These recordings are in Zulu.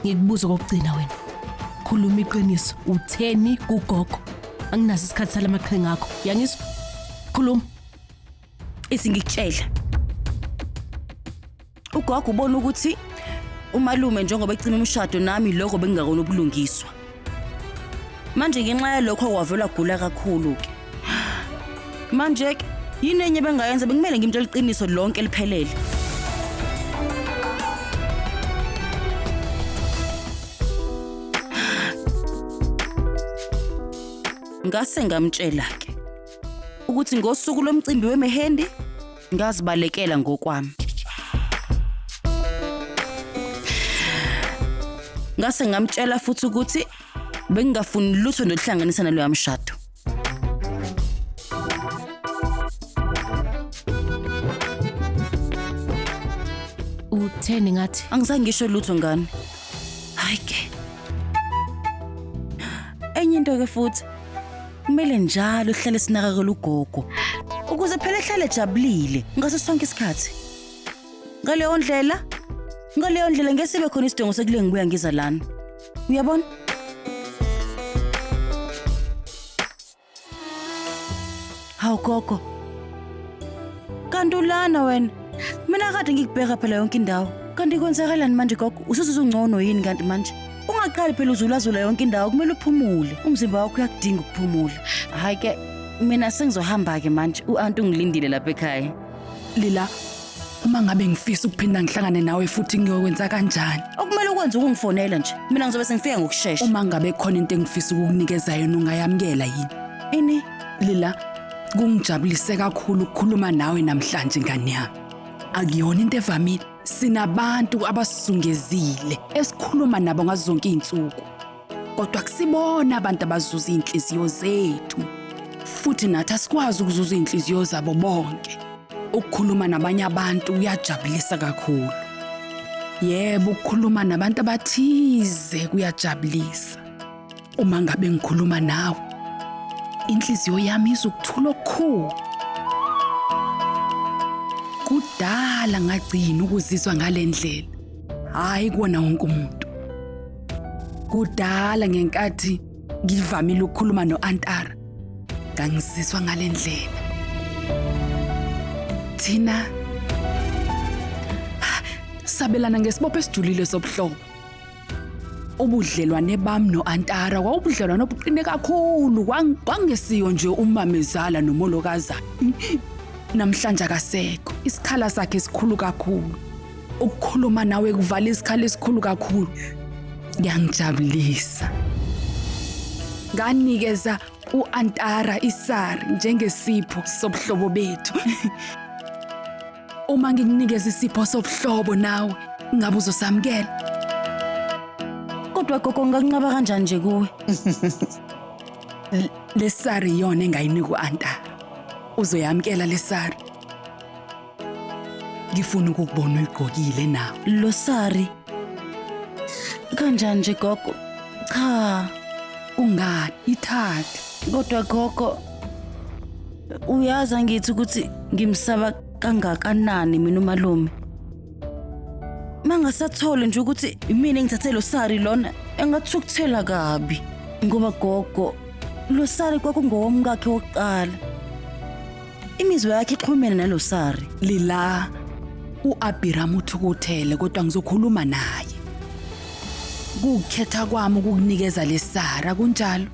Ngikubuza kokugcina wena. Khuluma iqiniso, utheni kugogo? Anginaso isikhathi salamaqhinga akho. Yangizwa? Khuluma. Isingikutshela. Ugogo ubona ukuthi umalume njengoba ecima umshado nami lokho bengingakona ubulungiswa. manje ngenxa yalokho wavele wagula kakhulu-ke manje-ke yini enye bengayenza bekumele ngimtshela iqiniso lonke liphelele ngase ngamtshela-ke ukuthi ngosuku lomcimbi wemehendi ngazibalekela ngokwami ngase ngamtshela futhi ukuthi bengingafuni lutho noluhlanganisa naloya mshado utheni ngathi angizange ngisho lutho ngane hayi ke enye into ke futhi kumele njalo sihlale sinakakela ugogo ukuze phela ehlale ejabulile ngaso sonke isikhathi ngaleyo ndlela ngaleyo ndlela ngeke sibe khona isidingo sekule ngibuya ngiza lana uyabona hawu gogo kanti ulana wena mina kade ngikubheka phela yonke indawo kanti kwenzakalani manje gogo usuzuzungcono yini kanti manje ungaqali phela uzulazula yonke indawo kumele uphumule umzimba wakho uyakudinga ukuphumula hhayi ke mina sengizohamba-ke manje u-anti ungilindile lapha ekhaya lila uma ngabe ngifisa ukuphinda ngihlangane nawe futhi ngiyokwenza kanjani okumele ukwenze ukungifonela nje mina ngizobe sengifika ngokushesha uma ngabe khona into engifisa ukukunikeza yona ungayamukela yini ini lila kungijabulise kakhulu ukukhuluma nawe namhlanje ngane yami akuyona into evamile Sinabantu abasizungezile esikhuluma nabo ngazo zonke izinsuku. Kodwa kusibona abantu abazuza izinhliziyo zethu. Futhi nathi asikwazi ukuzuza izinhliziyo zabo bonke. Ukukhuluma nabanye abantu kuyajabulisa kakhulu. Yebo, ukukhuluma nabantu abathize kuyajabulisa. Uma ngabe ngikhuluma nawe, inhliziyo yami izokuthula okukhulu. Kudala ngagcina ukuzizwa ngale ndlela, hhayi kuwona wonke umuntu. Kudala ngenkathi ngivamile ukukhuluma no-Antara, ngangizizwa ngale ndlela. Thina sabelana ngesibopho esijulile sobuhlobo. ubudlelwane bami no-antara kwawubudlelwane obuqine kakhulu Kwang- kwangesiyo nje umamezala nomolokaza namhlanje akasekho isikhala sakhe esikhulu kakhulu ukukhuluma nawe kuvala isikhala esikhulu kakhulu kuyangijabulisa nganikeza u-antara isari njengesipho sobuhlobo bethu Uma ngikunikeza isipho sobuhlobo nawe, ngabe uzosamukela. Kodwa gogo ngingakunqaba kanjani nje kuwe? Lesari yona engayinika u-anta. Uzoyamukela lesari. Ngifuna ukukubona uyigqokile nawe. Lo sari. Kanjani nje gogo? Cha, Ungani? Ithathe. kodwa gogo Uyazi angithi ukuthi ngimsaba kangakanani mina umalume. Mangasathole nje ukuthi imina engithathe lo sari lona engathukuthela kabi ngoba gogo lo sari kwakungowomkakhe wokuqala. Imizwa yakhe ixhumene nalo sari. Lila uAbhiram uthukuthele kodwa ngizokhuluma naye. Kukhetha kwami ukukunikeza lesara kunjalo.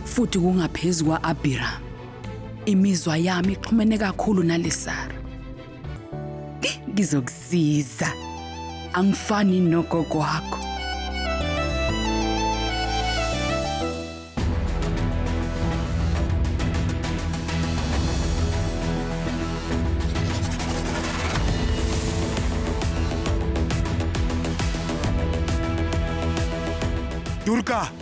futhi kungaphezu kwa-Abhiramu. Imizwa yami ixhumene kakhulu naleSara. Ngizokusiza. Angifani nogogo wakho. Durga!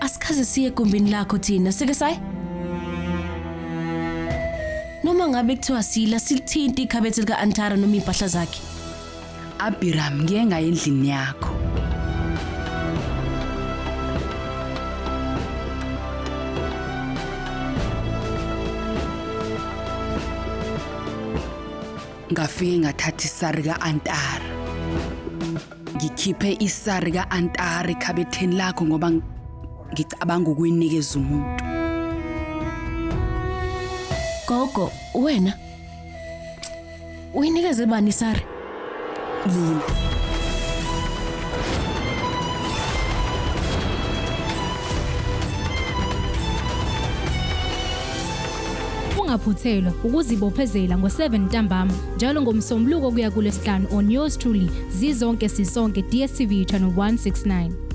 Asikaze siye egumbini lakho thina, sike sayi. Noma ngabe kuthiwa sila silithinta ikhabethe lika Antara noma impahla zakhe. Abiram ngiye ngaye endlini yakho. Ngafike ngathatha isari ka-antara. Ngikhiphe isari ka-antari khabetheni lakho ngoba ng- ngicabanga ukuyinikeza umuntu. Gogo, wena uyinikeze bani sari? Linda. Ungaphuthelwa ukuzibophezela ngo-7 ntambama. njalo ngomsombuluko kuya kulesihlanu on yours truly zizonke sisonke dstv channel 169